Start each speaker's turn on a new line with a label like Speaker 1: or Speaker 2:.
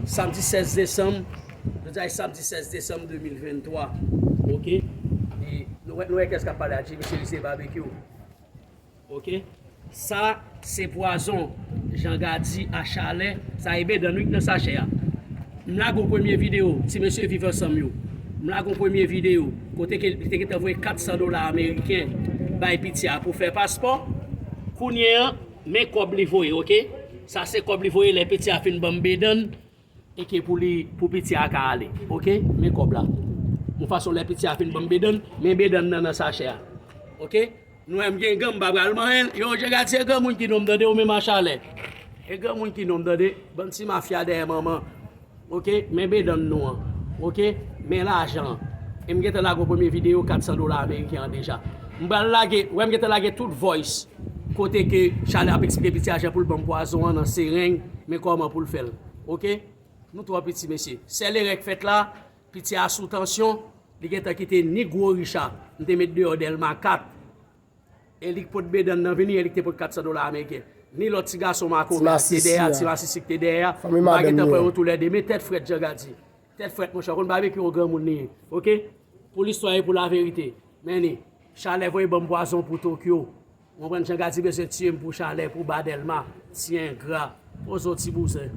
Speaker 1: Samdi 16 desanm, jodi a se samdi 16 desanm 2023 ok e nou wè nou wè kiyès kap pale a Jimmy Chery se Babekyou ok sa se pwazon Jean Gardy a chalè sa e bedan wi k nan sachè a m lage yon premye video ti mesye viv ansanm yo m lage yon premye video kote ke li te gentan voye 400 dola ameriken bay piti a pou fè paspò kounye an Men kob li voye ok. Sa se kob li voye le piti a fin banm bedann eke pou li pou piti a ka ale ok men kob la yon fason le piti a fin banm bedann men bedann nan nan sachè a ok nou wem gen gan m pa pral manyen l yo je gad se granmoun ki nom tande ou menm a chalè e granmoun ki nom tande bann ti mafya dèyè manman. Ok men bedanm nou an ok men lajan an e m gentan lage yon premye video 400 dola ameriken an deja m pral lage wè m gentan lage tout voice kote ke Charly ap eksplike piti a jan pou l banm pwazon an nan sereng men kòman pou l fè l ok nou twò piti mesye sèl erè k fèt la piti a sou tansyon li gentan kite ni gwo Richard m te met deyò Delma 4. E li k pot Bedan nan vini e li k te pot 400 dola ameriken. Ni lòt ti gason makoven a k te dèyè a, ti masisi k te dèyè a, m pa gen tan pran yo toulède. Men tèt frèt Janga di. Tèt frèt monchè, w konn Babekyou on granmoun li ye. Ok. Pou listwa e pou laverite. Men ni. Chalè voye ban m pwazon pou Tokyo. Ou konprann Janga di bezwen tiye m pou Chalè, pou ba Dèlma. Ti engra. Poze w ti bouzen.